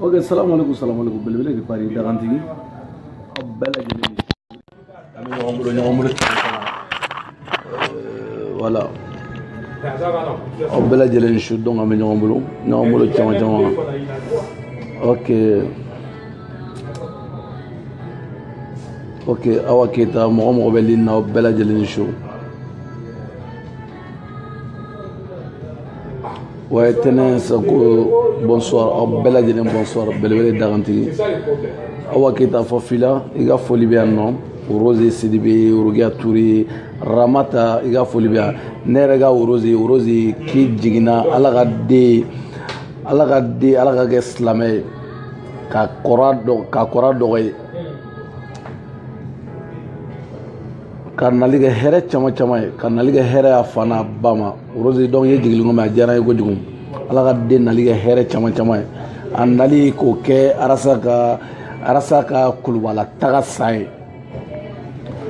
ok salamu alaikum salamu alaikum belebele de paris dagantigi aw bɛɛ lajɛlen an bɛ ɲɔgɔn bolo voilà aw bɛɛ lajɛlen ni su donc an bɛ ɲɔgɔn bolo ɲɔgɔn bolo caman caman ok ok awa keyita mɔgɔ o mɔgɔ bɛ ligne na aw bɛɛ lajɛlen ni su ouais tɛnɛ sako bonsoir aw bɛɛ lajɛlen bonsoir belebele dagantigi awa keyita fɔ fila i ka foli bɛ yan nɔ rose sidibe orokiya ture ramata i ka foli bɛ yan ne yɛrɛ ka rose rose k'i jiginna ala ka den ala ka den ala k'a kɛ silamɛ ye ka kɔrɔ dɔ ka kɔrɔ dɔgɔ ye k'a nali kɛ hɛrɛ caman caman ye k'a nali kɛ hɛrɛ y'a fa n'a ba ma rose donc i jigili komi a diyara n ye kojugu ala ka den nali kɛ hɛrɛ caman caman ye a nali k'o kɛ arasa ka arasa ka kuluba la taga san ye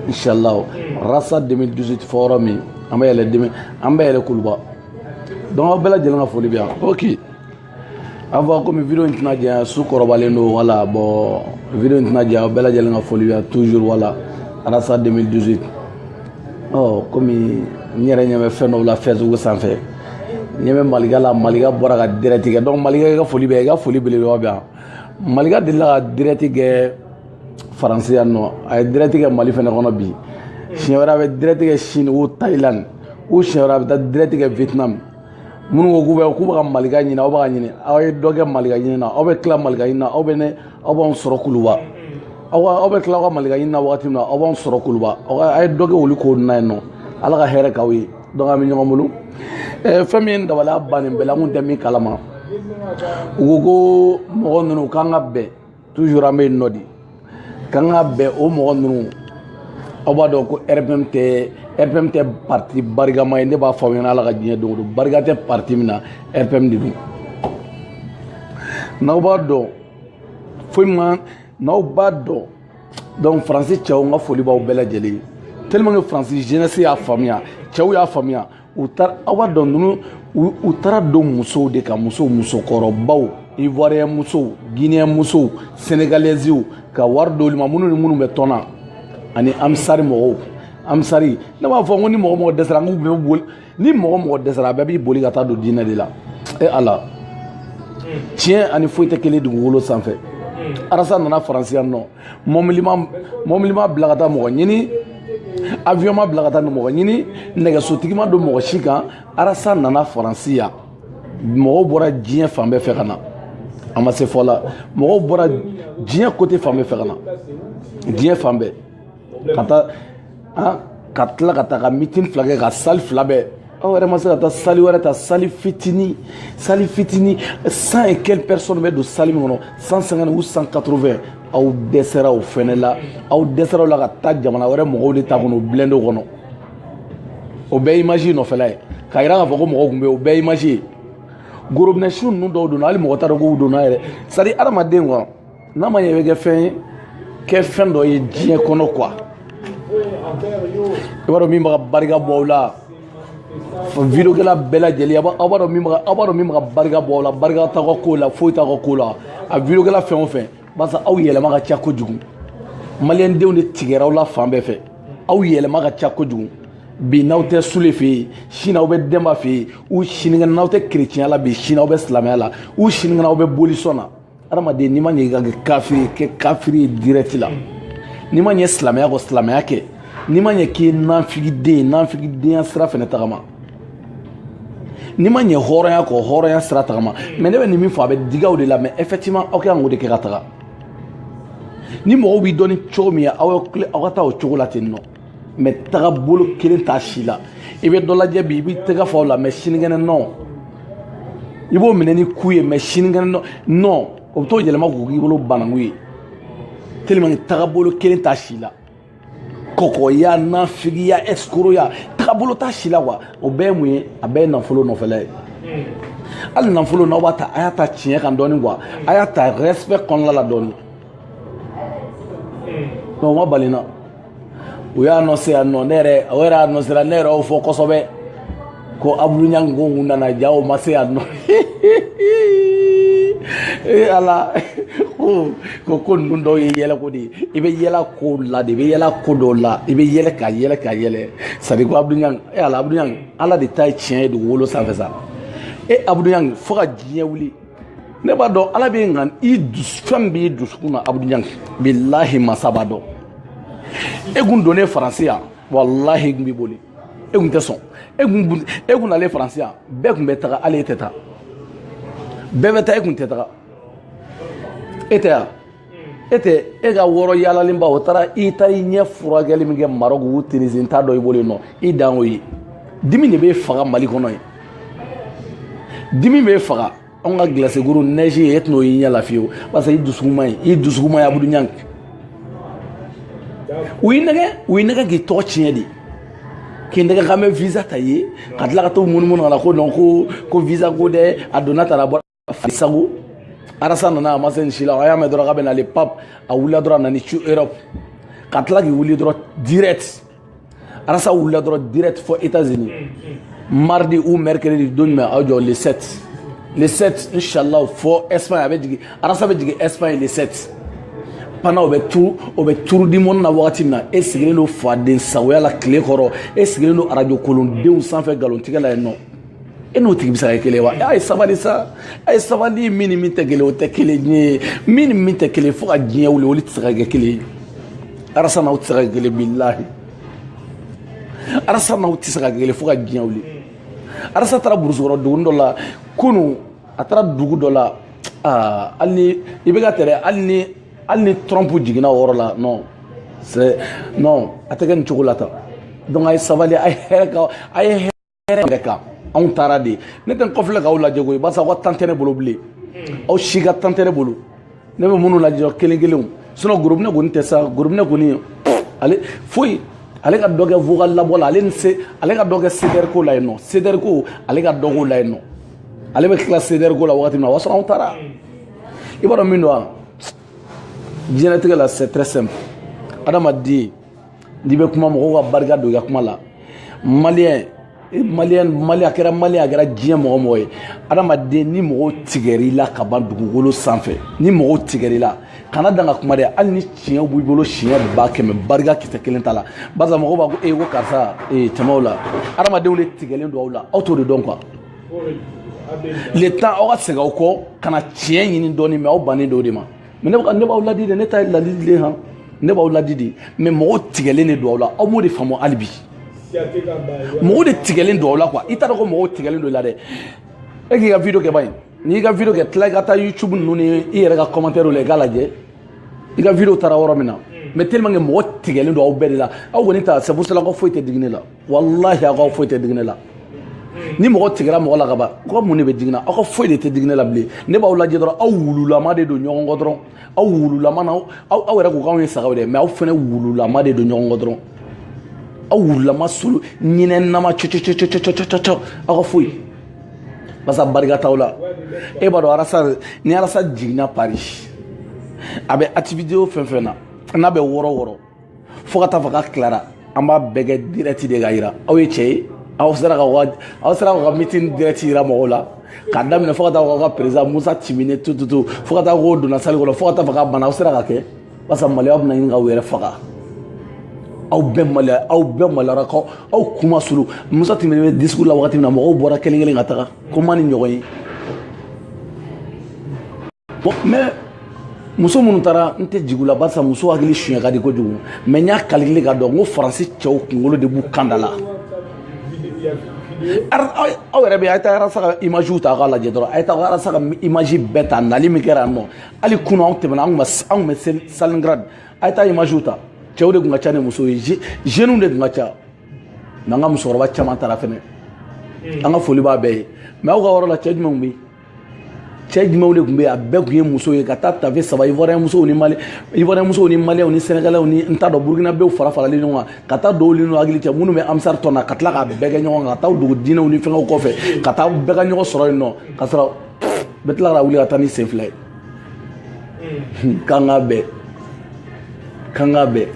inshallah rasa 2018 fɔ yɔrɔ min an bɛ yɛlɛ 2000 an bɛ yɛlɛ kuluba donc aw bɛɛ lajɛlen ka foli bɛ yan ok an fɔ komi video in tɛna janya su kɔrɔbalen don voilà bon video in tɛna janya aw bɛɛ lajɛlen ka foli bɛ yan toujours voilà arasa 2018 ɔ komi n yɛrɛ ɲɛ bɛ fɛn dɔw la facebook sanfɛ n ɲɛ bɛ malika la malika bɔra ka direct kɛ donc malika i ka foli bɛ i ka foli belebeleba bɛ yan malika delila ka direct kɛ faransi yan nɔ a ye direct kɛ mali fɛnɛ kɔnɔ bi siɲɛ wɛrɛ a bɛ direct kɛ chine ou thailand ou siɲɛ wɛrɛ a bɛ taa direct kɛ vietnam minnu ko k'u bɛ k'u bɛ ka malika ɲini aw bɛ k'a ɲini aw ye dɔ kɛ malika ɲini na aw bɛ tila malika ɲini na aw bɛ ne aw b'anw sɔrɔ kuluba aw ka aw bɛ tila aw ka malika ɲini na wagati min na aw b'anw sɔrɔ kuluba aw ka a ye dɔ kɛ olu ko na yen nɔ ala ka hɛrɛ k'aw ye donc an bɛ ɲɔgɔn bolo ɛɛ fɛn min ye n dabali ban nin bɛɛ la n tun tɛ min kalama u ko ko mɔgɔ ninnu k'an ka bɛn toujours an bɛ yen nɔ de k'an ka bɛn o mɔgɔ ninnu aw b'a dɔn ko rpm tɛ rpm tɛ parti barikama ye ne b'a fɔ aw ɲɛna ala ka diɲɛ don o don barika tɛ parti min na rpm de don n'aw b'a dɔn foyi man n'aw b'a dɔn donc faransi cɛw n ka foli b'aw bɛɛ lajɛlen ye tellement que faransi jeunesse y'a faamuya cɛw y'a faamuya u taara aw b'a dɔn ninnu u taara don musow de ka muso musokɔrɔbaw ivoiriyɛn musow guineyɛn musow senegalɛziw ka wari d'olu ma minnu ni minnu bɛ tɔn na ani ansari mɔgɔw ansari ne b'a fɔ ko ni mɔgɔ o mɔgɔ dɛsɛra n k'u bɛɛ boli ni mɔgɔ o mɔgɔ dɛsɛra a bɛɛ b'i boli ka taa don diinɛ de la e ala tiɲɛ ani foyi tɛ kelen dugukolo sanfɛ arasa nana faransi yan nɔ mɔbili ma bila ka taa mɔgɔ ɲini avion ma bila ka taa mɔgɔ ɲini nɛgɛsotigi ma don mɔgɔ si kan arasa nana faransi yan mɔgɔw bɔra diɲɛ fan bɛɛ fɛ ka na a ma se fɔ la mɔgɔw bɔra diɲɛ côté fan bɛɛ fɛ ka na diɲɛ fan bɛɛ ka taa ka tila ka taa ka mitin fila kɛ ka sali fila bɛɛ aw yɛrɛ ma se ka taa sali wɛrɛ ta sali fitini sali fitini 100 et quelques personnes bɛ don sali min kɔnɔ 150 ou 180 aw dɛsɛra o fɛnɛ la aw dɛsɛra o la ka taa jamana wɛrɛ mɔgɔw de ta kɔnɔ blende kɔnɔ o bɛɛ image nɔfɛla ye k'a yira k'a fɔ ko mɔgɔw tun bɛ yen o bɛɛ image ye gorobinɛsu ninnu dɔw donna hali mɔgɔ t'a dɔn k'u donna yɛrɛ c'est à dire adamaden kɔni n'a ma ɲɛ i bɛ kɛ fɛn ye kɛ fɛn dɔ ye diɲɛ kɔnɔ kuwa i b'a dɔn min bɛ ka barika bɔ aw la videwokɛla bɛɛ lajɛlen aw b'a dɔn min bɛ aw b'a dɔn min bɛ ka barika bɔ aw la barika t'aw ka ko la foyi t'aw ka ko la a videwokɛla fɛn o fɛn barisa aw yɛlɛma ka ca kojugu maliyɛndenw de tigɛra aw la fan bɛɛ fɛ aw yɛlɛma ka ca kojugu bi n'aw tɛ sule fɛ yen sini aw bɛ denba fɛ yen u sinikɛnɛ n'aw tɛ kerecɛnya la bi sini aw bɛ silamɛya la u sinikɛnɛ aw bɛ bolisɔn na adamaden n'i ma ɲɛ i ka kɛ kafiri ye kɛ kafiri ye direct la n'i ma ɲɛ silamɛya kɔ silamɛya kɛ n'i ma ɲɛ k'i ye nanfigiden ye nanfigidenya sira fɛnɛ tagama n'i ma ɲɛ hɔrɔnya kɔ hɔrɔnya sira tagama mɛ ne bɛ nin min fɔ a bɛ dig'aw de la mɛ effectivement aw kan k'o de kɛ ka taga ni mɔgɔw b'i dɔn ni cogo min ye aw aw ka taa o cogo la ten nɔ mɛ tagabolo kelen t'a si la i bɛ dɔ lajɛ bi i b'i tɛgɛ fa o la mɛ sinikɛnɛ nɔ i b'o minɛ ni ku ye mɛ sinikɛnɛ nɔ nɔ o bɛ t'o yɛlɛma k'o k'i bolo bananku ye tellement tagabolo kelen t'a si la kɔkɔya nafigiya ɛsikoroya tagabolo t'a si la kuwa o bɛɛ ye mun ye a bɛɛ ye nafolo nɔfɛla ye hali nafolo n'aw b'a ta a y'a ta tiɲɛ kan dɔɔni kuwa a y'a ta respect kɔnɔna la dɔɔni donc ma balina u y'a anɔnse yan nɔ ne yɛrɛ o yɛrɛ anɔnsera ne yɛrɛ y'o fɔ kosɛbɛ ko abudu ɲangi k'o tun nana ja o ma se yan nɔ ee ala ko ko ko ninnu dɔw ye yɛlɛko de ye i bɛ yɛlɛ ko la de i bɛ yɛlɛ ko dɔw la i bɛ yɛlɛ ka yɛlɛ ka yɛlɛ sadi ko abudu ɲangi ee ala abudu ɲangi ala de ta ye tiɲɛ ye dugukolo sanfɛ sa e abudu ɲangi fo ka diɲɛ wuli ne b'a dɔn ala bɛ nka i fɛn b'i dusukun na abudu ɲangi bilahi masa b'a dɔn e kun donnen faransi yan walahi e kun b'i boli e kun tɛ sɔn e kun e kun nalen faransi yan bɛɛ kun bɛ taga hali e tɛ taa bɛɛ bɛ taa e kun tɛ taga e tɛ yan e tɛ e ka wɔɔrɔ yaalalenba o taara i taara i ɲɛ furakɛli min kɛ marɔku u tinizi t'a dɔn i bolo yen nɔ i dan o ye dimi de b'e faga mali kɔnɔ yen dimi b'e faga anw ka glace kuru neige e tɛn'o y'i ɲɛ la fiyewu parce que i dusukun man ɲi i dusukun man ɲi abudu ɲangi u y'i nɛgɛ u y'i nɛgɛ k'i tɔgɔ tiɲɛ de k'i nɛgɛ k'an bɛ visa ta ye ka tila ka t'o munumunu ka na ko non ko ko visa ko dɛ a donna tara bɔ sago arasa nana a ma se nin si la a y'a mɛn dɔrɔn k'a bɛ n'ale pap a wulila dɔrɔn a nana n'i cun europe ka tila k'i wuli dɔrɔn direct arasa wulila dɔrɔn direct fɔ états unis mardi ou mercredi don jumɛn aw jɔ le 7 le 7 inshallah fɔ espagne a bɛ jigin arasa bɛ jigin espagne le 7 pendant o bɛ tour o bɛ tour du monde na wagati min na e sigilen don faden sagoya la tile kɔrɔ e sigilen don arajo kolondenw sanfɛ nkalontigɛ la yen nɔ e n'o tigi bɛ se ka kɛ kelen ye wa a ye sabali sa a ye sabali min ni min tɛ kelen o tɛ kelen ye min ni min tɛ kelen fo ka diɲɛ wuli olu tɛ se ka kɛ kelen ye arasa n'aw tɛ se ka kɛ kelen bilahi arasa n'aw tɛ se ka kɛ kelen fo ka diɲɛ wuli arasa taara burusukɔrɔ dugu dɔ la kunu a taara dugu dɔ la aa hali ni i bɛ ka tɛrɛ hali ni hali ni trump jiginna o yɔrɔ la non c'est non a tɛ kɛ nin cogo la tan donc a ye sabali a ye hɛrɛ ka a ye hɛrɛ yɛrɛ kan anw taara de ne tɛ n kɔfilɛ k'aw lajɛ koyi barisa aw ka temps tɛ ne bolo bilen aw si ka temps tɛ ne bolo ne bɛ minnu lajɛ kelen kelenw sinon gorobinɛ kɔni tɛ sa gorobinɛ kɔni ale foyi ale ka dɔ kɛ vocal labɔ la ale ni se ale ka dɔ kɛ cdr ko la yen nɔ cdr ko ale ka dɔ k'o la yen nɔ ale bɛ tila cdr ko la wagati min na o y'a sɔrɔ anw taara i b'a dɔn min don wa diɲɛlatigɛ la c'est très simple adamaden n'i bɛ kuma mɔgɔw ka barika don i ka kuma la maliyɛn e maliyɛn mali a kɛra maliyɛn a kɛra diɲɛ mɔgɔ mɔgɔ ye adamaden ni mɔgɔw tigɛra i la ka ban dugukolo sanfɛ ni mɔgɔw tigɛra i la kana dan ka kuma dɛ hali ni tiɲɛ b'i bolo siɲɛ ba kɛmɛ barika kisɛ kelen t'a la barisa mɔgɔw b'a ko ee ko karisa ee tɛmɛw la adamadenw de tigɛlen don aw la aw t'o de dɔn quoi le temps aw ka segin aw kɔ ka na tiɲɛ ɲini dɔɔni mais aw bannen don o de ma mais ne bɛ ka ne b'aw ladi de ne ta ye ladili de ye han ne b'aw ladi de mais mɔgɔw tigɛlen de don aw la aw m'o de faamu hali bi mɔgɔw de tigɛlen don aw la quoi i t'a dɔn ko mɔgɔw tigɛlen don i la dɛ e k'i ka video kɛ bani n'i y'i ka video kɛ tila i ka taa youtube ninnu ni i yɛrɛ ka commentaire la i k'a lajɛ i ka video taara yɔrɔ min na mais tellement que mɔgɔ tigɛlen don aw bɛɛ de la aw kɔni ta c'est pour cela ko foyi tɛ digi ne la walahi aw ka foyi tɛ digi ne la ni mɔgɔ tigɛra mɔgɔ la ka ban ko mun de bɛ digi n na aw ka foyi de tɛ digi ne la bilen ne b'aw lajɛ dɔrɔn aw wululama de don ɲɔgɔn kɔ dɔrɔn aw wululama na aw aw yɛrɛ ko k'anw ye sagaw de ye mɛ aw fana wululama de don ɲɔgɔn kɔ dɔrɔn aw wululama solo ɲinɛnama cɔcɔcɔcɔcɔcɔcɔ aw ka foyi basa barika t'aw la e b'a dɔn arasa ni arasa jiginna paris a bɛ activité o fɛn fɛn na n'a bɛ wɔrɔ wɔrɔ fo ka taa fɔ k'a tilara an b'a bɛɛ kɛ dirɛti de ka yira aw ye cɛ ye aw sera ka aw sera ka mitin dirɛti yira mɔgɔw la k'a daminɛ fo ka taa ka perezidan musa timine tututu fo ka taa k'o donna sali kɔnɔ fo ka taa fɔ k'a bana aw sera ka kɛ barisa maloya bɛna ɲini k'aw yɛrɛ faga aw bɛɛ maloya aw bɛɛ maloyara k'aw aw kun ma suli musa timine bɛ discours la wagati min na mɔgɔw bɔra kelen kelen ka taga k'u man di ɲɔgɔn ye bon mais muso minnu taara n tɛ jigin u la barisa muso hakili suɲɛ ka di kojugu mɛ n y'a kalikile k'a dɔn n ko faransi cɛw kunkolo de b'u kan da la aw yɛrɛ bɛ a ye taa arasa ka imagew ta k'a lajɛ dɔrɔn a ye taa arasa ka image bɛɛ ta nali min kɛra yan nɔ hali kunu anw tɛmɛna anw tun bɛ stalingrad a ye taa imagew ta cɛw de tun ka ca ni musow ye jeunes de tun ka ca mɛ an ka musokɔrɔba caman taara fɛnɛ an ka foli b'a bɛɛ ye mɛ aw ka yɔrɔ la cɛ jumɛnw bɛ yen cɛ jumɛnw de tun bɛ yen a bɛɛ tun ye muso ye ka taa tafe saba ivoiriyɛn musow ni mali ivoiriyɛn musow ni maliyɛnw ni sɛnɛgalɛw ni n t'a dɔn burukinabew fara faralen ɲɔgɔn kan ka taa dɔw ni hakili cɛ minnu bɛ ansari tɔn na ka tila k'a bɛɛ kɛ ɲɔgɔn kan ka taa dugu diinɛw ni fɛngɛw kɔfɛ ka taa bɛɛ ka ɲɔgɔn sɔrɔ yen nɔ ka sɔrɔ bɛɛ tila ka wuli ka taa ni sen fila ye k'an ka bɛn k'an ka bɛn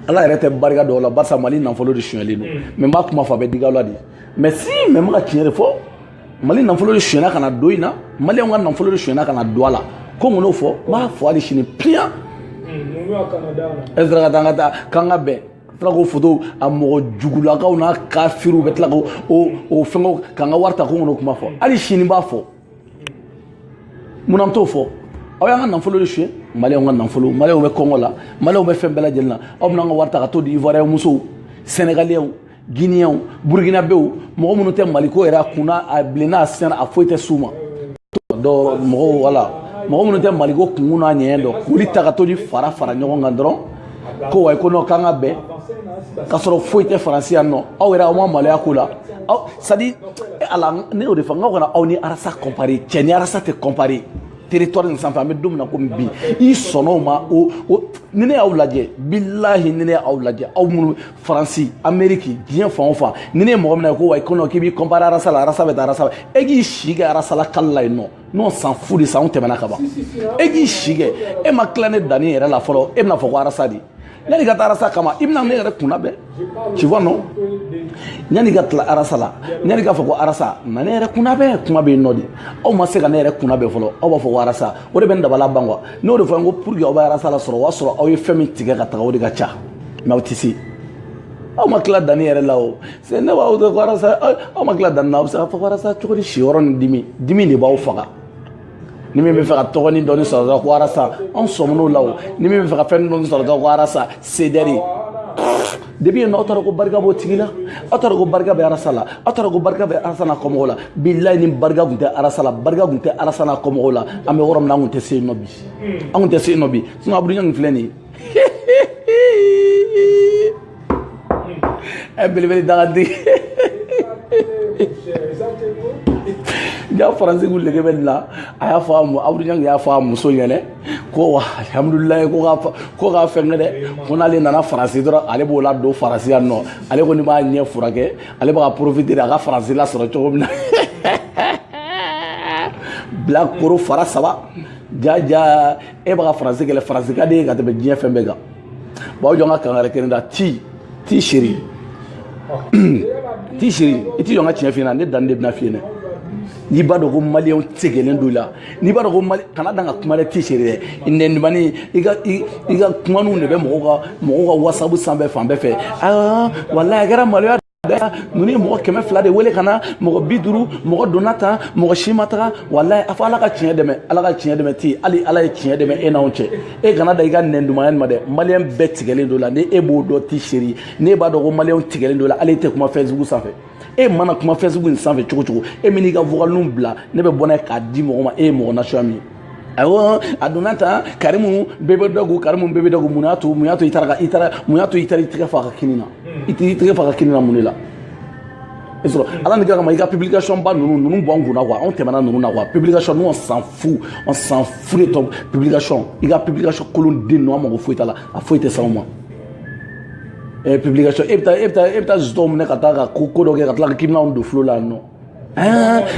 ala yɛrɛ tɛ barika don aw la barisa mali nafolo de sonyɛlen don mɛ n b'a kuma fɔ a bɛ digi aw la de mɛ si mɛ n bɛ ka tiɲɛ de fɔ mali nafolo de sonyɛna ka na don in na maliyɛnw ka nafolo de sonyɛna ka na don a la ko mun n'o fɔ n b'a fɔ hali sini piyan e sera ka taa ka taa k'an ka bɛn tila k'o foto a mɔgɔ jugulakaw n'a kafiriw bɛ tila ko o fɛngɛw k'an ka wari ta ko mun n'o kuma fɔ hali sini n b'a fɔ mun na n t'o fɔ aw y'an ka nafolo de suɲɛ maliyɛnw ka nafolo maliyɛnw bɛ kɔngɔ la maliyɛnw bɛ fɛn bɛɛ lajɛlen na aw bɛna an ka wari ta ka t'o di ivoiriyɛn musow sɛnɛgalɛw guinéens burkinabéw mɔgɔ minnu tɛ maliko yɛrɛ a kunna a bilenna a sɛnɛ a foyi tɛ s'u ma donc mɔgɔw wala mɔgɔ minnu tɛ maliko kunkun n'a ɲɛɲɛ dɔn k'olu ta ka to ni fara fara ɲɔgɔn kan dɔrɔn ko wayi ko non k'an ka bɛn k'a sɔrɔ foyi tɛ faransi yan nɔ aw yɛrɛ aw ma maloya ko la aw c'est-à-dire eh, ala ne y'o de fɔ n k'aw kana aw ni arasa kɔnpare cɛ ni arasa tɛ kɔnpare territoire nin sanfɛ an bɛ don min na komi bi i sɔnna o ma o o ni ne y'aw lajɛ bilahi ni ne y'aw lajɛ aw minnu faransi ameriki diɲɛ fan o fan ni ne ye mɔgɔ mina ye ko wa i kɔnɔ k'i b'i kɔnpare arasa la arasa bɛ taa arasa e k'i si kɛ arasa lakali la yen nɔ nous on s'en fout de ça anw tɛmɛna ka ban e k'i si kɛ e ma tila ne danni yɛrɛ la fɔlɔ e bɛna fɔ ko arasa de yanni ka taa arasa kama i bɛna ne yɛrɛ kunnabɛn tu vois non yanni ka tila arasa la yanni k'a fɔ ko arasa na ne yɛrɛ kunnabɛn kuma bɛ yen nɔ de aw ma se ka ne yɛrɛ kunnabɛn fɔlɔ aw b'a fɔ ko arasa o de bɛ n dabala ban kuwa n'o de fɔ n ko pour que aw bɛ arasa lasɔrɔ o y'a sɔrɔ aw ye fɛn min tigɛ ka taga o de ka ca mɛ aw tɛ se aw ma tila danni yɛrɛ la o se ne b'aw to ko arasa aw ma tila danni na aw bɛ se ka fɔ ko arasa cogo di si yɔrɔ ni dimi dimi de b'aw faga ni min b'a fɛ ka tɔgɔnin dɔɔni sɔrɔ dɔrɔn ko arasa anw sɔmin'o la o ni min b'a fɛ ka fɛn dɔɔni sɔrɔ dɔrɔn ko arasa sedɛri depi yen nɔ aw taara ko barika b'o tigi la aw taara ko barika bɛ arasa la aw taara ko barika bɛ arasa n'a kɔmɔgɔw la bilayi ni barika tun tɛ arasa la barika tun tɛ arasa n'a kɔmɔgɔw la an bɛ yɔrɔ min na an tun tɛ se yen nɔ bi an tun tɛ se yen nɔ bi sinɔn abudu ɲangi filɛ nin ye ɛ belebele dagadi ja faransi ko nege bɛ nin la a y'a fɔ a mu abudu ɲangi y'a fɔ a muso ɲɛna ko wa alihamudulilayi ko ka ko ka fɛnkɛ dɛ ko n'ale nana faransi dɔrɔn ale b'o la don faransi yan nɔ ale kɔni b'a ɲɛ furakɛ ale b'a ka porofite de a ka faransi lasɔrɔ cogo min na bilakoro fara saba ja ja e b'a ka faransi kɛlɛ faransi ka d'i ye ka tɛmɛ diɲɛ fɛn bɛɛ kan bon aw jɔ n ka kangari kelen da ti ti seri ti seri i t'i jɔ n ka tiɲɛ f'i ɲɛna ne danni de bɛna f'i ɲɛna n'i b'a dɔn ko maliyɛnw tigɛlen don i la n'i b'a dɔn ko mali kana dan ka kuma dɛ ti seri dɛ nɛnimani i ka i ka kumaniw de bɛ mɔgɔw ka mɔgɔw ka wasabu sanfɛ fan bɛɛ fɛ aa walayi a kɛra maloya ninnu ye mɔgɔ kɛmɛ fila de wele ka na mɔgɔ bi duuru mɔgɔ donna tan mɔgɔ si ma taga walayi a fɔ ala ka tiɲɛ dɛmɛ ala ka tiɲɛ dɛmɛ ti hali ala ye tiɲɛ dɛmɛ e n'anw cɛ e kana da i ka nɛndumanya ma dɛ maliyɛn bɛɛ tigɛlen don i la ni e b'o dɔn ti seri n'e b'a dɔn ko maliyɛnw tigɛlen don i la hali e tɛ kuma fesibuku sanfɛ e mana kuma fesibuku in sanfɛ cogo cogo e man'i ka vokaliniw bila ne bɛ bɔ n'a ye k'a di mɔgɔ ma e ye mɔgɔ nasuguya min ye awɔ a donna tan karimu bɛɛ bɛ dɔ ko karimu bɛɛ bɛ dɔ ko mun y'a to mun y'a to i taara ka i taara mun y'a to i taara i tɛgɛ f'a ka kini na i tɛ i tɛgɛ f'a ka kini na mun de la i sɔrɔ ala ni kira kama i ka publication ba ninnu ninnu bɔ an kunna kuwa anw tɛmɛna ninnu na kuwa publication ninnu on s'en fout on s'en fout de ton publication i ka publication kolon den ninnu an mago foyi t'a la a foyi tɛ s'anw ma ɛɛ publication e bɛ taa e bɛ taa e bɛ taa zetɔnw minɛ ka taa ka ko ko dɔ kɛ ka tila k'i bɛna anw don fulo la yan nɔ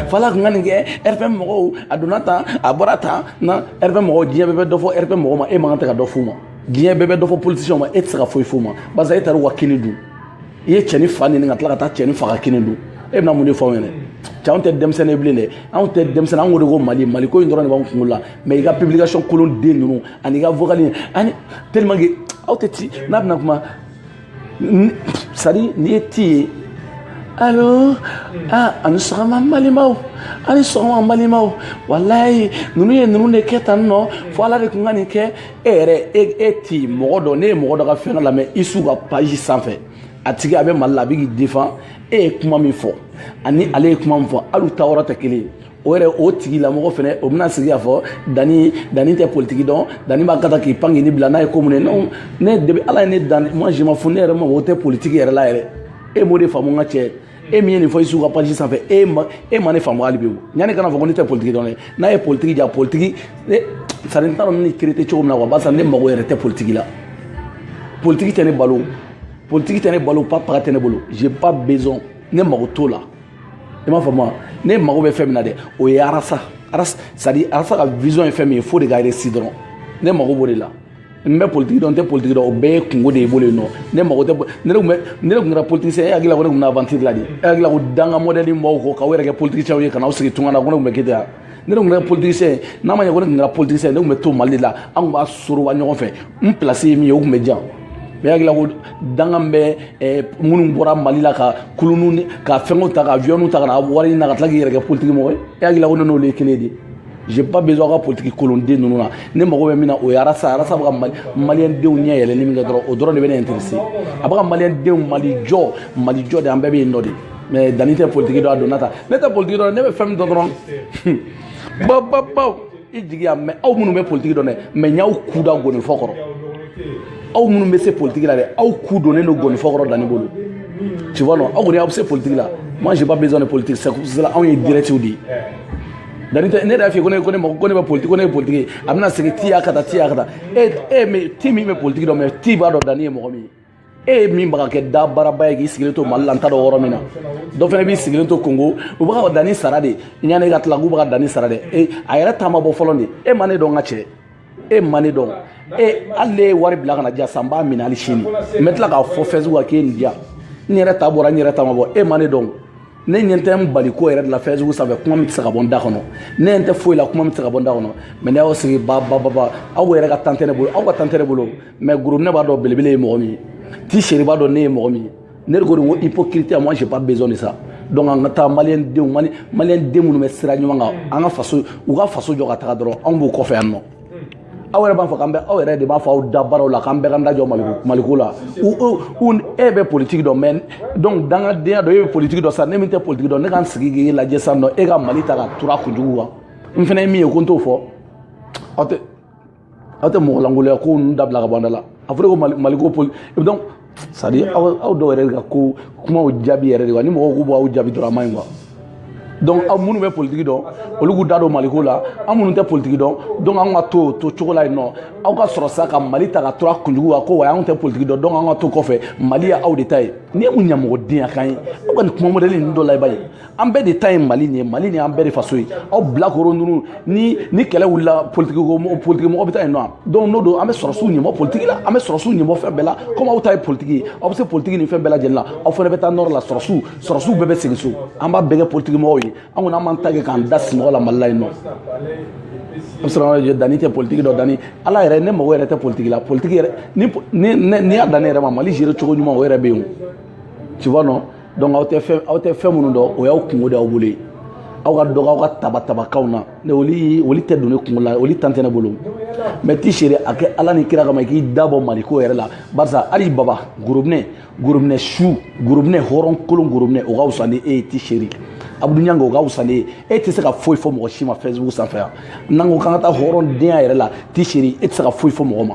fala tun ka nin kɛ rpm mɔgɔw a donna tan a bɔra tan na rpm mɔgɔw diɲɛ bɛɛ bɛ dɔ fɔ rpm mɔgɔw ma e man kan tɛ ka dɔ f'u ma diɲɛ bɛɛ bɛ dɔ fɔ politiciɛnw ma e tɛ se ka foyi f'u ma barisa e taara u ka kini dun i ye cɛni fa nɛni ka tila ka taa cɛni fa ka kini dun e bɛna mun de fɔ anw ɲɛna cɛ anw tɛ denmisɛnnin bilen dɛ anw tɛ denmisɛnnin anw ko de ko mali mali ko in dɔrɔn de b'anw kunkolo la mɛ i ka publication kolon den ninnu ani i ka vocal ani tellement que aw tɛ ci n'a bɛna kuma sadi n'i ye ti ye alo aa aw ni sɔgɔma n balimaw aw ni sɔgɔma n balimaw walayi ninnu ye ninnu de kɛ tan nɔ fo ala de tun ka nin kɛ e yɛrɛ e e ti mɔgɔ dɔ ne ye mɔgɔ dɔ ka fɛn dɔ lamɛn isu ka page sanfɛ a tigi a bɛ mali la a bɛ k'i défend e ye kuma min fɔ ani ale ye kuma min fɔ hali u ta yɔrɔ tɛ kelen ye o yɛrɛ o tigilamɔgɔ fɛnɛ o bɛna sigi k'a fɔ danni danni tɛ politiki dɔn danni b'a ka taa k'i pan k'i ni bila n'a ye ko mun ye non ne depuis ala ye ne dan moi je m'en fous ne yɛrɛ mago tɛ politiki yɛrɛ la yɛrɛ e m'o de faamu n ka cɛ e min ye nin fɔ isu ka page sanfɛ e ma e ma ne faamu hali bi o yanni kana fɔ ko ne tɛ politiki dɔn dɛ n'a ye politiki ja politiki ne sadi n t'a dɔn ne kirete cogo min na wa barisa ne mago yɛrɛ tɛ politiki la politiki tɛ ne balo politiki tɛ ne balo pa paga tɛ ne bolo j'ai pas besoin ne mago t'o la i m'a faamu wa ne mago bɛ fɛn min na dɛ o ye arasa arasa sadi arasa ka vision ye fɛn min ye o de ka réussir dɔrɔn ne mago b'o de la n bɛ politiki dɔn n tɛ politiki dɔn o bɛɛ ye kungo de ye bolo yen nɔ ne mago tɛ ne tun bɛ ne tun kɛra politisiyɛn e hakili la ko ne tun bɛ na aventure la de e hakili la ko danga mɔdɛli b'aw kɔ k'aw yɛrɛ kɛ politisiyɛnw ye ka n'aw sigi tunga na ko ne tun bɛ kɛ ten wa ne tun kɛra politisiyɛn ye n'a ma ɲɛ ko ne tun kɛra politisiyɛn ye ne tun bɛ to mali de la an tun b'a soroba ɲɔgɔn fɛ n place ye min ye o tun bɛ di yan mais hakili la ko danga min bɛ eh, minnu bɔra mali la ka kulunu ni ka fɛnw ta ka aviyɔnw ta ka na wari ɲini na ka tila k'i yɛrɛ kɛ politiki mɔgɔ ye e hakili la ko ne n'olu ye kelen ye dɛ j'ai pas besoin ka politiki kolonden ninnu na ne mago bɛ min na o ye arasa arasa bɛ ka maliyɛn denw ɲɛ yɛlɛli min kɛ dɔrɔn o dɔrɔn de bɛ ne intéressé a bɛ ka maliyɛn denw mali jɔ mali jɔ de an bɛɛ bɛ yen nɔ de mais danni tɛ politiki dɔn a donna ta ne tɛ politiki dɔn ne bɛ fɛn min dɔn dɔrɔn baw baw baw i jigiya mais aw minnu bɛ politiki dɔn dɛ mais n y'aw ku da gonifɔ kɔrɔ aw minnu bɛ se politiki la dɛ aw ku donnen don gonifɔ kɔrɔ danni bolo tu vois non aw kɔni aw bɛ se politiki la moi j'ai pas besoin de politique c'est cela anw ye direct de ye danni tɛ ne yɛrɛ y'a f'i ye ko ne ko ne mako ko ne bɛ politiki ko ne ye politiki ye a bɛna segin ti y'a ka taa ti y'a ka taa e e ti min bɛ politiki dɔn mais ti b'a dɔn danni ye mɔgɔ min ye e ye min bɛ ka kɛ da baaraba ye k'i sigilen to mali la n t'a dɔn yɔrɔ min na dɔ fana b'i sigilen to kongo u bɛ ka danni sara de yanni e ka tila k'u bɛ ka danni sara dɛ e a yɛrɛ ta ma bɔ fɔlɔ de e ma ne dɔn n ka cɛ e ma ne dɔn e hali n'e ye wari bila ka na di yan san n b'a minɛ hali sini n bɛ tila k'a fɔ Facebook kan k'e nin di yan n yɛrɛ ta bɔra n yɛrɛ ta ma bɔ e ma ne dɔn ne ɲɛ tɛ n bali ko yɛrɛ de la Facebook sanfɛ kuma min tɛ se ka bɔ n da kɔnɔ ne ɲɛ tɛ foyi la kuma min tɛ se ka bɔ n da kɔnɔ mais ne y'aw sigi ba ba ba ba aw yɛrɛ ka temps tɛ ne bolo aw ka temps tɛ ne bolo mais gorobinɛ b'a dɔn belebele ye mɔgɔ min ye ti seri b'a dɔn ne ye mɔgɔ min ye ne de ko de ko hypocrite moi j'ai pas besoin de ça donc an ka taa maliyɛn denw mali maliyɛn den minnu bɛ sira ɲuman kan an ka faso u ka faso jɔ ka taga dɔrɔn anw b'u kɔfɛ yan nɔ aw yɛrɛ b'a fɔ k'an bɛ aw yɛrɛ de b'a fɔ aw da baaraw la k'an bɛɛ ka da jɔ maliko maliko la u e bɛ politiki dɔn mais donc dangadenya dɔ e bɛ politiki dɔn sa ne min tɛ politiki dɔn ne ka n sigi k'e lajɛ sa nɔ e ka mali ta k'a tur'a kunjugu kan n fana ye min ye ko n t'o fɔ aw tɛ aw tɛ mɔgɔlankoloya ko ninnu dabila ka bɔ an da la a fɔra ko mali ko poli donc c'est à dire aw dɔw yɛrɛ de ka ko kumaw jaabi yɛrɛ de wa ni mɔgɔw k'u b'aw jaabi dɔrɔn a man ɲi quoi donc aw minnu bɛ politiki dɔn olu k'u da don maliko la an minnu tɛ politiki dɔn donc an ka to to cogo la yen nɔ aw ka sɔrɔ sa ka mali ta k'a turu a kunjugu kan ko wa anw tɛ politiki dɔn donc an ka to kɔfɛ mali ye aw de ta ye nin ye mun ɲamɔgɔdenya kan ye aw ka nin kuma mɔdɛli ninnu dɔ la i b'a ye an bɛɛ de ta ye mali nin ye mali nin an bɛɛ de faso ye aw bilakoro ninnu ni ni kɛlɛ wulila politiki politiki mɔgɔ bɛ taa yen nɔ donc n'o don an bɛ sɔrɔsiw ɲɛmɔ politiki la an bɛ sɔrɔsiw ɲɛmɔ fɛn bɛɛ la komi aw ta ye politiki ye aw bɛ se politiki ni fɛn bɛɛ lajɛlen la aw fana bɛ taa nɔrɔ la sɔrɔsiw sɔrɔsiw bɛɛ bɛ segin so an b'a bɛɛ kɛ politiki mɔgɔw ye an kɔni an b'an ta kɛ k'an da sinɔgɔ la mali la yen nɔ dani tɛ politiki dɔn dani ala yɛrɛ ne mago yɛrɛ tɛ politiki la politiki yɛrɛ n'i y'a dan ne yɛrɛ ma mali gérer cogo ɲuman o yɛrɛ bɛ yen o tu vois non donc aw tɛ fɛn aw tɛ fɛn minnu dɔn o y'aw kungo de aw bolo ye aw ka dɔgɔ aw ka tabatabakanw na ne oli oli tɛ don ne kungo la oli tan tɛ ne bolo mɛ ti seere a kɛ ala ni kira kama i k'i da bɔ maliko yɛrɛ la barisa hali baba gorobinɛ gorobinɛ su gorobinɛ hɔrɔn kolon gorobinɛ o ka wusa ni e ye ti seere abdou niang o ka wusa n'i ye e tɛ se ka foyi fɔ mɔgɔ si ma facebook sanfɛ yan n'an ko k'an ka taa hɔrɔndenya yɛrɛ la ti seere e tɛ se ka foyi fɔ mɔgɔ ma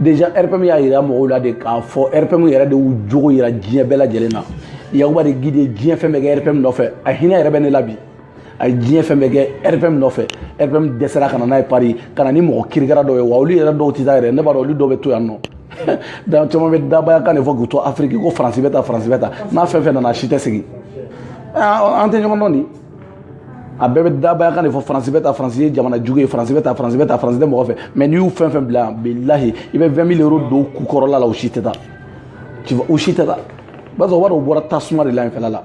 déjà rpm y'a yira mɔgɔw la de k'a fɔ rpm yɛrɛ de y'u jogo yira diɲɛ bɛɛ lajɛlen na yakuba de guide ye diɲɛ fɛn bɛɛ kɛ rpm nɔfɛ a hinɛ yɛrɛ bɛ ne la bi a ye diɲɛ fɛn bɛɛ kɛ rpm nɔfɛ rpm dɛsɛra ka na n'a ye paris ka na ni mɔgɔ kirikara dɔw ye wa olu yɛrɛ dɔw tɛ taa yɛrɛ ne b'a dɔn olu dɔw bɛ to yan nɔ donc caman bɛ dabaya kan de fɔ k'u to afiriki ko faransi bɛ tan faransi bɛ tan n'a fɛn fɛn nana a si tɛ segin an tɛ ɲɔgɔn dɔn nin a bɛɛ bɛ dabaya kan de fɔ faransi bɛ tan faransi ye jamana jugu ye faransi bɛ tan faransi bɛ tan faransi tɛ mɔgɔ fɛ mɛ n'i y'u fɛn fɛn bila bilahi i bɛ 20 mille euros don ku kɔrɔla la u si tɛ taa tu vois u si tɛ taa b'a sɔrɔ wari o bɔra tasuma de la yen fɛla la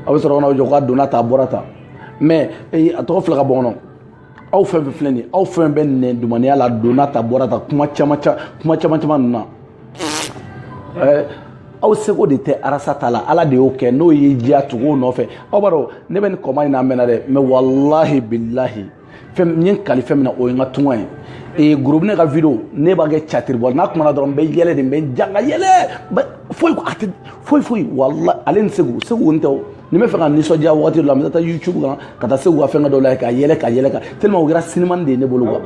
aw bɛ sɔrɔ ka na aw jɔ k'a donna tan a bɔra tan mɛ a tɔgɔ fila ka bɔ kɔnɔ aw fɛn fɛn filɛ nin ye aw fɛn bɛ nɛndumaniya la donna tan bɔra tan kuma caman kuma caman caman ninnu na ɛɛ aw seko de tɛ arasa ta la ala de y'o kɛ n'o y'i diya tugu o nɔfɛ aw b'a dɔn ne bɛ nin combat in na a mɛnna dɛ mɛ walahi bilahi fɛn n ye n kali fɛn min na o ye n ka tunga ye ee gorobinɛ ka video ne b'a kɛ catiri bɔ n'a kumana dɔrɔn n bɛ yɛlɛ de n bɛ n janga yɛlɛ foyi a tɛ foyi foyi walahi ale ni segu segu n tɛ o ni n b'a fɛ ka nisɔndiya wagati dɔ la n bɛ taa youtube kan ka taa segu ka fɛngɛ dɔ la ka yɛlɛ ka yɛlɛ ka tellement u kɛra sinimani de ye ne bolo quoi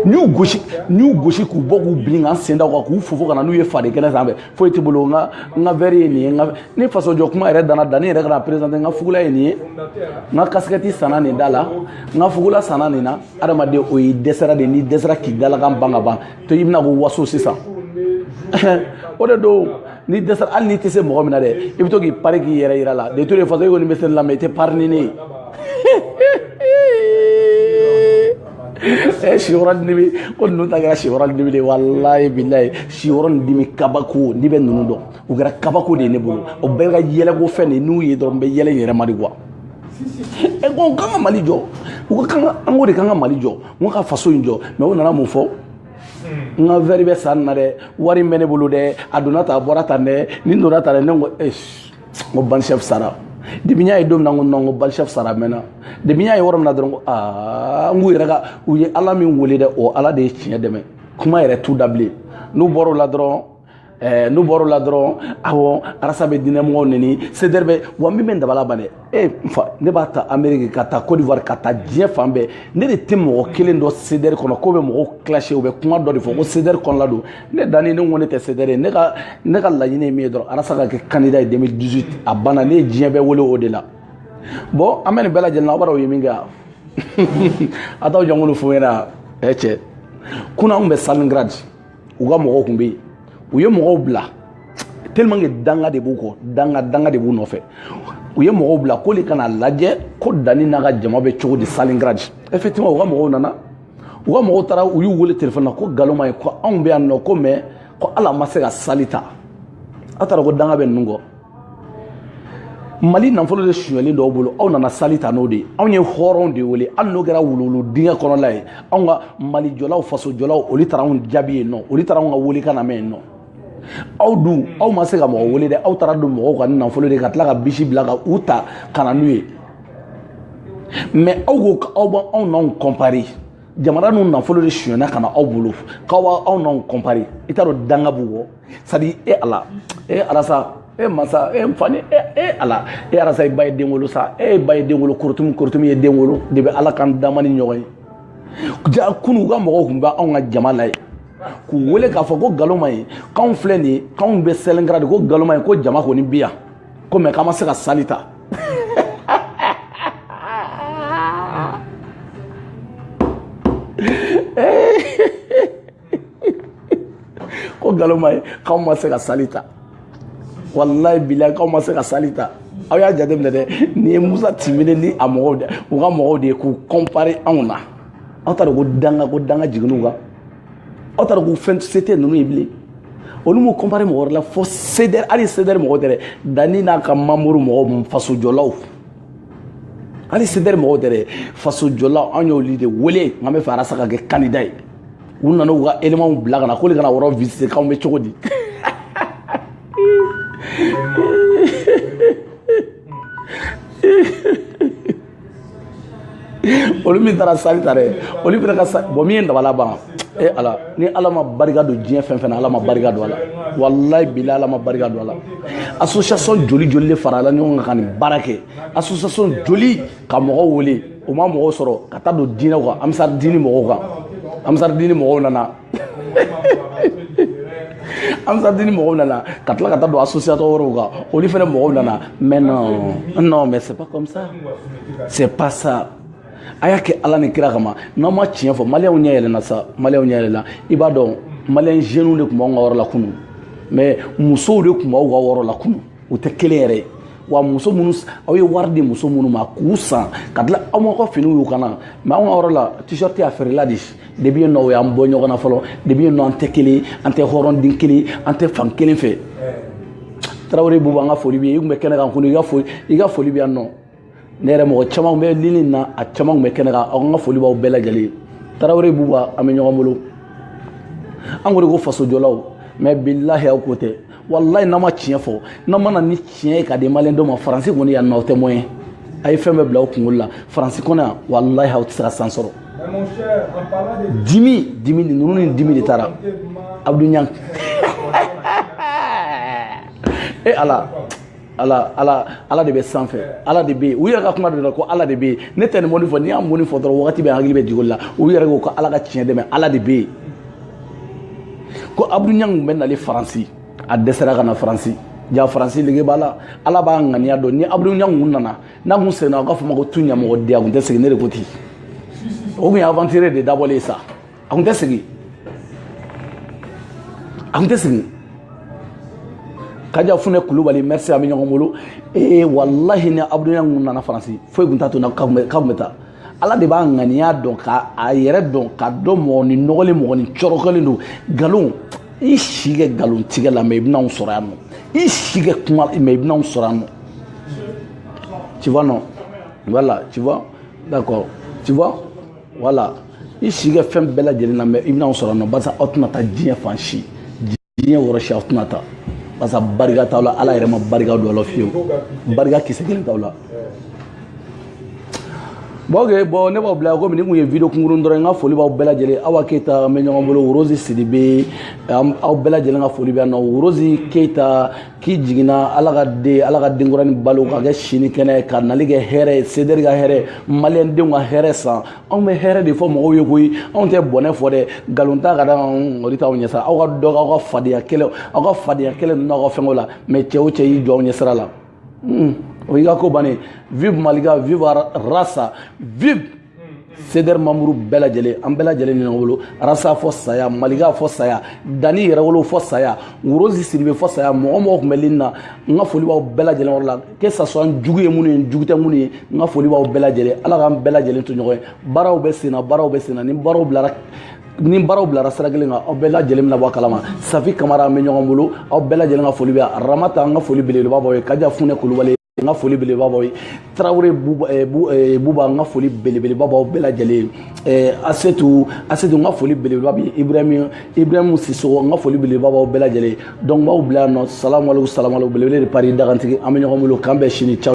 n y'u gosi n y'u gosi k'u bɔ k'u bin ka n sen da u kan k'u fofo ka na n'u ye fadenkɛnɛ sanfɛ foyi tɛ bolo n ka n ka verre ye nin ye n ka ni fasojɔ kuma yɛrɛ danna dani yɛrɛ ka na présenter n ka fugula ye nin ye n ka kasikɛti sanna nin da la n ka fugula sanna nin na adamaden o y'i dɛsɛra de n'i dɛsɛra k'i dalakan ban ka ban to i bɛna k'o waso sisan o de don n'i dɛsɛra hali n'i tɛ se mɔgɔ min na dɛ i bɛ to k'i pari k'i yɛrɛ yira la de toute façon e kɔni bɛ se la mɛ i tɛ pari ni ne ye ɛ siyɔrɔ ni dimi ko ninnu ta kɛra siyɔrɔ ni dimi de ye walayi bilayi siyɔrɔ ni dimi kabako n'i bɛ ninnu dɔn u kɛra kabako de ye ne bolo o bɛɛ ka yɛlɛko fɛn de n'u ye dɔrɔn n bɛ yɛlɛ n yɛrɛ ma de quoi ɛ ko k'an ka mali jɔ u ka kan ka an ko de k'an ka mali jɔ an ka faso in jɔ mɛ u nana mun fɔ n ka vɛri bɛ san na dɛ wari bɛ ne bolo dɛ a donna tan a bɔra tan dɛ nin donna tan dɛ ne ko n ko bandit chef sara depi n y'a ye don min na n ko nɔn ko bandit chef sara mɛnna depi n y'a ye yɔrɔ min na dɔrɔn ko aa n k'u yɛrɛ ka u ye ala min wele dɛ o ala de ye tiɲɛ dɛmɛ kuma yɛrɛ t'u da bilen n'u bɔra o la dɔrɔn Eh, n'u bɔr'o la dɔrɔn awɔ arasa bɛ diinɛmɔgɔw neni sedɛri bɛ wa min bɛ n dabali ban dɛ e n fa ne b'a ta ameriki ka taa cote d'ivoire ka taa diɲɛ fan bɛɛ ne de tɛ mɔgɔ kelen dɔn sedɛri kɔnɔ k'o bɛ mɔgɔw clasher u bɛ kuma dɔ de fɔ ko sedɛri kɔnɔla don ne danni ne ko ne tɛ sedɛri ye ne ka ne ka laɲini ye min ye dɔrɔn arasa ka kɛ candidat ye 2018 a banna ne ye diɲɛ bɛɛ wele o de la bɔn an bɛ nin bɛɛ lajɛlen na aw b'a dɔn u ye min kɛ yan a t'aw jɔnkulu fo n ɲɛna ɛ cɛ kunun an bɛ stalingrad u ka mɔgɔw tun bɛ yen u ye mɔgɔw bila tellement que danga de b'u kɔ danga danga de b'u nɔfɛ u ye mɔgɔw bila k'olu ka na lajɛ ko dani n'a ka jama bɛ cogo di stalingrad effectivement u ka mɔgɔw nana u ka mɔgɔw taara u y'u wele telefɔni na ko nkalon ma ɲi ko anw bɛ yan nɔ ko mɛ ko ala ma se ka sali ta aw taara ko danga bɛ ninnu kɔ mali nafolo de sonyalen d'aw bolo aw nana sali ta n'o de ye anw ye hɔrɔnw de wele hali n'o kɛra wuluwulu dingɛ kɔnɔla ye anw ka malijɔlaw fasojɔlaw olu taara anw jaabi yen nɔ olu taara anw ka welekan lamɛn yen nɔ aw dun aw ma se ka mɔgɔ wele dɛ aw taara don mɔgɔw kan ni nafolo de ka tila ka bisi bila ka u ta ka na n'u ye mɛ aw ko k'aw b'aw aw n'anw kɔnpari jamana nin nafolo de sonyana ka na aw bolo k'aw b'aw n'anw kɔnpari i t'a dɔn danga b'u kɔ c'est-à-dire e ala e arasa e masa e nfa ni e, e ala e arasa i ba ye den wolo sa e ba ye den wolo korotumu korotumu ye den wolo de bɛ ala kan dama ni ɲɔgɔn ye jaa kunun u ka mɔgɔw tun bɛ anw ka jama la ye k'u wele k'a fɔ ko nkalon ma ɲi k'anw filɛ nin ye k'anw bɛ stalingrad ko nkalon ma ɲi ko jama kɔni bi yan ko mɛ k'an ma se ka sali ta ko nkalon ma ɲi k'aw ma se ka sali ta walayi bilayi k'aw ma se ka sali ta aw y'a jateminɛ dɛ nin ye musa timbine ni a mɔgɔw de u ka mɔgɔw de ye k'u kɔnpare anw na aw t'a dɔn ko danga ko danga jiginn'u kan aw t'a dɔn ko fɛn se tɛ ninnu ye bilen olu m'u kɔnpare mɔgɔ wɛrɛ la fo sedɛri hali sedɛri mɔgɔ tɛ dɛ danni n'a ka manburu mɔgɔw fasojɔlaw hali sedɛri mɔgɔw tɛ dɛ fasojɔlaw an y'olu de wele nka n b'a fɛ arasa ka kɛ kandida ye u nana u ka éléments bila ka na k'olu ka na yɔrɔ visiter k'anw bɛ cogo di olu min taara sali ta dɛ olu fana ka sa bɔn min ye dabala ban e ala ni ala ma barika don diɲɛ fɛn fɛn na ala ma barika don a la walayi bilahi ala ma barika don a la association joli joli de farala ɲɔgɔn kan ka nin baara kɛ association joli ka mɔgɔw wele u ma mɔgɔw sɔrɔ ka taa don diinɛw kan ansari diini mɔgɔw kan ansari diini mɔgɔw nana ansari diini mɔgɔw nana ka tila ka taa don association wɛrɛw kan olu fɛnɛ mɔgɔw nana mais non non mais c'est pas comme ça c'est pas ça a y'a kɛ ala ni kira kama n'an ma tiɲɛ fɔ maliyɛnw ɲɛ yɛlɛna sa maliyɛnw ɲɛ yɛlɛna i b'a dɔn maliyɛn jeunes de tun b'anw ka yɔrɔ la kunun mais musow de tun b'aw ka yɔrɔ la kunun u tɛ kelen yɛrɛ ye wa muso minnu aw ye wari di muso minnu ma k'u san ka tila aw ma ka finiw y'u kan na mais anw ka yɔrɔ la t-shirt y'a feerela de depuis yen nɔ o y'an bɔ ɲɔgɔn na fɔlɔ depuis yen nɔ an tɛ kelen an tɛ hɔrɔnden kelen an tɛ fan kelen fɛ tarawele buba an ka foli b'i ye i tun bɛ kɛnɛ kan kunu i ka foli bɛ yan nɔ ne yɛrɛ mɔgɔ caman bɛ lini na a caman tun bɛ kɛnɛ kan aw ka foli b'aw bɛɛ lajɛlen tarawele buba an bɛ ɲɔgɔn bolo anw de ko fasojɔlaw mais bilahi aw ko tɛ walayi n'an ma tiɲɛ fɔ n'an ma na ni tiɲɛ ye ka di maliyɛn dɔ ma faransi kɔni yan nɔ aw tɛ moyen a ye fɛn bɛɛ bila aw kunkolo la faransi kɔnɔ yan walayi aw tɛ se ka san sɔrɔ dimi dimi de ninnu ni dimi de taara abudu ɲangu e ala ala ala ala de bɛ sanfɛ ala de bɛ yen u yɛrɛ ka kuma de la ko ala de bɛ yen ne tɛ nin mot nin fɔ n'i y'a mot nin fɔ dɔrɔn wagati bɛɛ hakili bɛ jigin o la u yɛrɛ ko ko ala ka tiɲɛ dɛmɛ ala de bɛ yen ko abudu ɲangu bɛ nali faransi a dɛsɛra ka na faransi ja faransi lege b'a la ala b'a ŋaniya dɔn ni abudu ɲangu kun nana n'a kun seginna u k'a fɔ ma ko tu ɲamɔgɔden a kun tɛ segin ne de ko ten o kun ye aventure de dabɔlen sa a kun tɛ segin a kun tɛ segin kaja funɛ kulubali merci an bɛ ɲɔgɔn bolo ee walahi ni abudu ɲangu kun nana faransi foyi kun t'a to na k'a kun bɛ taa ala de b'a ŋaniya dɔn ka a yɛrɛ dɔn ka dɔn mɔgɔ ni nɔgɔlen mɔgɔ ni cɔrɔkɔlen don nkalon i si kɛ nkalon tigɛ la mais i bɛna anw sɔrɔ yan nɔ i si kɛ kuma mais i bɛna anw sɔrɔ yan nɔ tu vois non voilà tu vois d'accord tu vois voilà i si kɛ fɛn bɛɛ lajɛlen na mais i bɛna anw sɔrɔ yan nɔ barisa aw tɛna taa diɲɛ fan si diɲɛ wɔrɔ si aw tɛna taa barisa barika t'aw la ala yɛrɛ ma barika don aw la fiyewu barika kisɛ kelen t'aw la bon ok bon ne b'aw bila yan komi nin tun ye video kunkurun dɔrɔn n ka foli b'aw bɛɛ lajɛlen awa keyita an bɛ ɲɔgɔn bolo rozi sidibe aw bɛɛ lajɛlen ka foli bɛ yan nɔ rozi keyita k'i jiginna ala ka den ala ka denkuranin balo k'a kɛ sini kɛnɛ k'a nali kɛ hɛrɛ ye sederi ka hɛrɛ maliyɛn denw ka hɛrɛ san anw bɛ hɛrɛ de fɔ mɔgɔw ye koyi anw tɛ bɔnɛ fɔ dɛ nkalon ta k'a da o de t'aw ɲɛsira aw ka dɔ aw ka fadenya kɛlɛ aw ka fadenya kɛlɛ ninnu n'aw ka fɛnko la mais cɛ o cɛ y'i jɔ aw ɲɛsira la o y'i ka ko bannen vive malika vive rasa vive sederi mamuru bɛɛ lajɛlen an bɛɛ lajɛlen ni ɲɔgɔn bolo arasa fɔ saya malika fɔ saya dani yɛrɛwolo fɔ saya rozi sidibe fɔ saya mɔgɔ o mɔgɔ tun bɛ lini na n ka foli b'aw bɛɛ lajɛlen yɔrɔ la que ça soit an jugu ye minnu ye jugu tɛ minnu ye n ka foli b'aw bɛɛ lajɛlen ala k'an bɛɛ lajɛlen to ɲɔgɔn ye baaraw bɛ senna baaraw bɛ senna ni baaraw bilara ni baaraw bilara sira kelen kan aw bɛɛ lajɛlen bɛna bɔ a kalama safi kamara an bɛ ɲɔgɔn bolo aw bɛɛ lajɛlen ka foli bɛ yan ramata an ka foli belebeleba b'aw ye kaja funɛ kulubali n ka foli belebeleba b'aw ye tarawele buba n ka foli belebeleba b'aw bɛɛ lajɛlen ye asetu asetu n ka foli belebeleba bɛ ibrahim ibrahim sisogo n ka foli belebeleba b'aw bɛɛ lajɛlen ye donc n b'aw bila yan nɔ salamu aleykum salamu aleykum belebele de paris dagantigi an bɛ ɲɔgɔn bolo k'an bɛn sini ciao